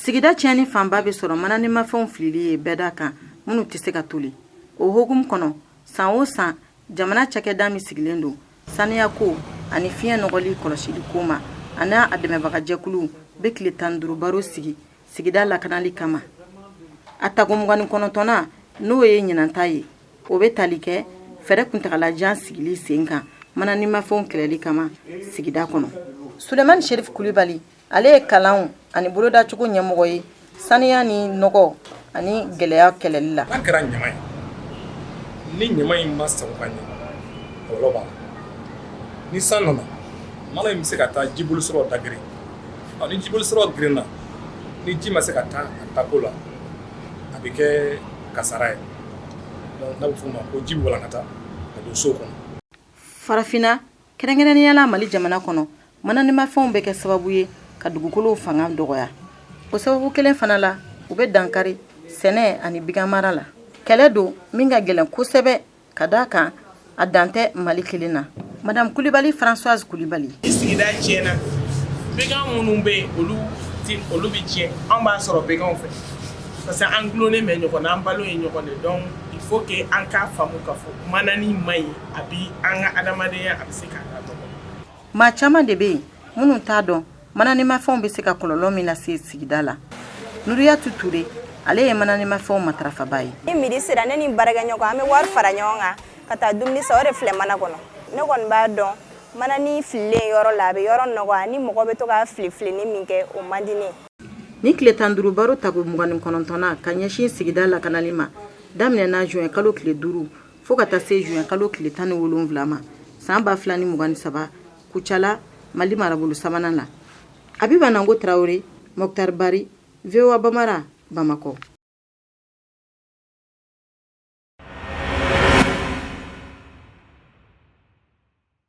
sigida tiɲɛni fanba bɛ sɔrɔ mananimafɛnw filili ye bɛɛda kan minnu tɛ se ka toli o hokumu kɔnɔ san o san jamana cakɛda min sigilen don saniyako ani fiɲɛ nɔgɔli kɔlɔsili ko ma ani a dɛmɛbagajɛkuluw bɛ tile tan duuru baro sigi sigida lakanali kama a tako mugan ni kɔnɔntɔnnan n'o ye ɲinanta ye o bɛ tali kɛ fɛɛrɛ kuntagalajan sigili sen kan mananimafɛnw kɛlɛli kama sigida kɔnɔ sulemani sherif kulibali ale ye kalanw ani bolodacogo ɲɛmɔgɔ ye saniya ni nɔgɔ ani gɛlɛya kɛlɛli la n'a kɛra ɲama ye ni ɲama in ma sago ka ɲɛ kɔlɔlɔ b'a la ni san nana mana in bɛ se ka taa jibolisira da geren ni jibolisiraw gerenna ni ji ma se ka taa a taako la a bɛ kɛ kasara ye n'a bɛ f'o ma ko ji bɛ walankata ka don so kɔnɔ farafinna kɛrɛnkɛrɛnnenya la mali jamana kɔnɔ mananimafɛnw bɛ kɛ sababu ye ka dugukolow fanga dɔgɔya o sababu kelen fana la u bɛ dankari sɛnɛ ani biganmara la kɛlɛ don min ka gɛlɛn kosɛbɛ ka d'a kan a dan tɛ mali kelen na madame kulibali françoise kulibali sigida tiɲɛna began minnu bɛ yen olu olu bɛ tiɲɛ an b'a sɔrɔ beganw fɛ parce que an gulonnen bɛ ɲɔgɔn na an balo ye ɲɔgɔn de donc il faut que an k'a faamu k'a fɔ manani man ɲi a bi an ka adamadenya a bɛ se k'a lanɔgɔ maa caman de bɛ yen minnu t'a dɔn mananimafɛnw bɛ se ka kɔlɔlɔ min lase sigida la nuriyatu ture ale ye mananimafɛnw matarafaba ye ni midi sera ne ni baarakɛɲɔgɔn an bɛ wari fara ɲɔgɔn kan ka taa dumuni san o de filɛ mana kɔnɔ ne kɔni b'a dɔn manani fililen yɔrɔ la a bɛ yɔrɔ nɔgɔ ni mɔgɔ bɛ to ka filifilini min kɛ o man di ne nin tile tan duuru baro tako mugan ni kɔnɔntɔnnan ka ɲɛsin sigida lakanali ma daminɛna juin kalo tile duuru fo ka taa se juin kalo tile tan ni wolonwula ma san ba fila ni mugan ni saba kucala mali marabolo sabanan na abiba nango tarawele mɔkutari bari voa bambara bamakɔ